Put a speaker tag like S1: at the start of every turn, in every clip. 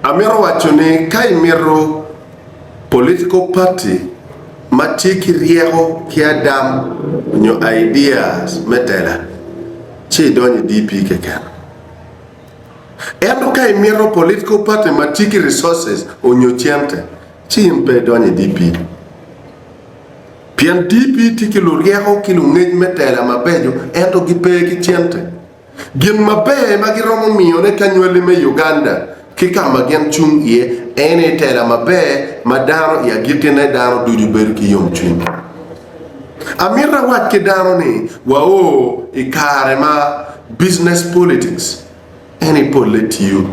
S1: Amito waco ni ka imito political party ma tye ki ryeko ki adam nyo ideas me tela ci idony i DP keken. Ento ka imito political party ma tye ki resources onyo cente ci in pe idony i DP. Pien DP tye ki luryeko ki lungec me tela mabeco ento gi pe ki cente. Gin maber ma giromo miyone kanywali me Uganda ki ka ma gin cung iye en aye tela maber ma dano i agikkine dano ducu bedo ki yomcwiny. Amito awac ki dano ni wao i kare ma business politics en i polle tiyo.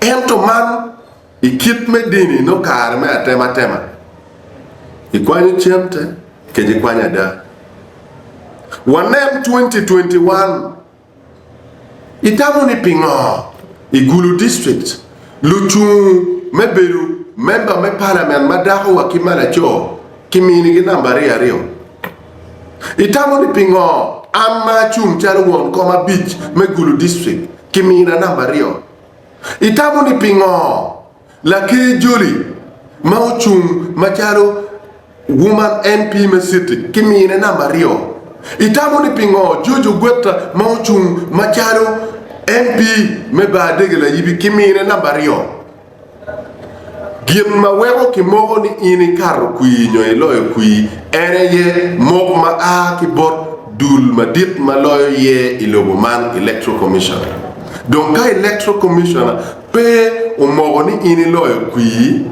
S1: Ento man. I kit me dini nongo kare me atematema ikwanyo cen te kece ikwanyo ada. Wanen twenty twenty one itamo ni pingo i Gulu district lucung me bedo member me parliament ma dako wa ki ma laco ki mini gi number aryo aryo? Itamo ni pingo an ma acung calo won kom abic me Gulu district ki mina number aryo? Itamo ni pingo Laker joli ma ocung macalo Woman MP me city ki mine namba aryo? Itamo ni pingo George Ogwetta ma ocung macalo MP me Baadege Layibi ki mine namba aryo? Gin ma weko kimoko ni in ikato kwir nyo iloyo kwir en aye mok ma a ki bot dul madit ma loyo ye i lobo man, Electoral Commission. Dong ka Electoral Commission pe omoko ni in iloyo kwir,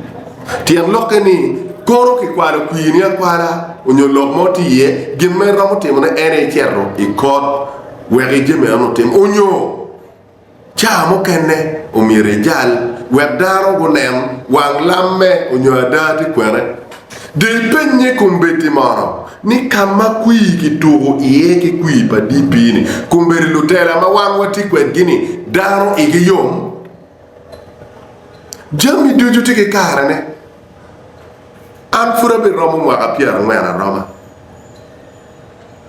S1: tyen lokke ni kono kikwalo kwirni akwala onyo lok mo tye iye, gin ma iromo timone en aye icito i kot wek ije meno-ni otim onyo. Caa mukene omyero ijal wek dano gunen wang lamme onyo ada tye kwene. Dong ipenye kombeddi mono ni ka ma kwir kituko iye ki kwir pa DP-ni, kombeddi lutela ma wan watye kwedgi-ni dano igi yom? Jami ducu tye ki karene. An pud abiromo mwaka pyerangwen aroma.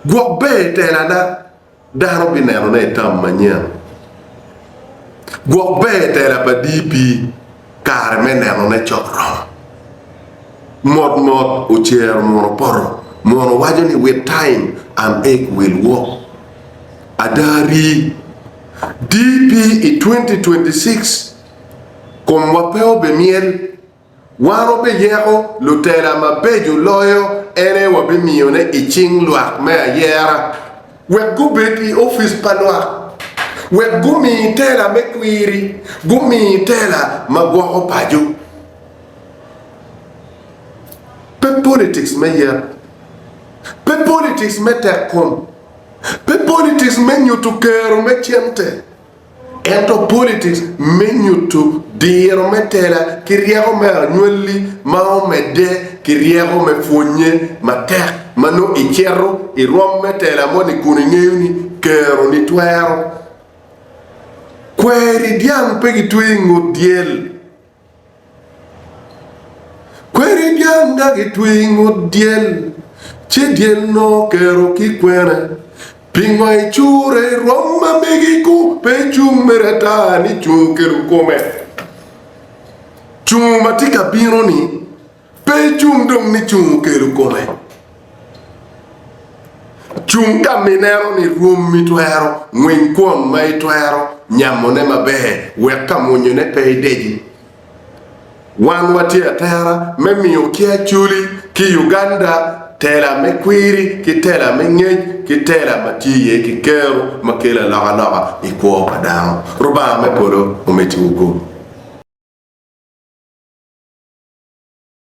S1: Gwok ber i telana. Dano binenone i tam manyen, gwok ber tela pa DP kare me nenone co oromo. Mot mot ocero mwono poto, mwono waco ni with time and egg will work. Ada rii, DP i 2026 komwa pe obimyel Wan wabiyeko lutela mabeco loyo ene wabimiyone i cing lwak me ayera, wek gubed i opic pa lwak, wek gumi tela me kwiri, gumi tela ma gwoko paco. Pe politics me yet, pe politics me tekkom, pe politics me nyutu kero me cente. Ento politics me nyutu diro me tela ki ryeko me anywalli ma omedde ki ryeko me pwonye matek ma nongo icito i rwom me tela moni kun ingeyo ni kero ni twero. Kweri dyang pe gitweyo ingut dyel. Kweri dyang nga gitwi i ngut dyel, ci dyel nongo kero ki kwene. Pingo icure irom ma megi ku pe icung mere ata ni cungo kedo kome? Cungo ma tye ka bino-ni. Pe icung dong ni cung okelo kome. Cung ka mineno ni rwommi twero ngwiny kwon ma itwero nyamone maber wek ka monyone pe ideji. Wan watye atera me miyo ki Acholi ki Uganda tela me kwiri ki tela me ngec ki tela ma tye iye ki kero ma kelo alokaloka i kwo pa dano. Rubanga me polo omeddi-wu kwo.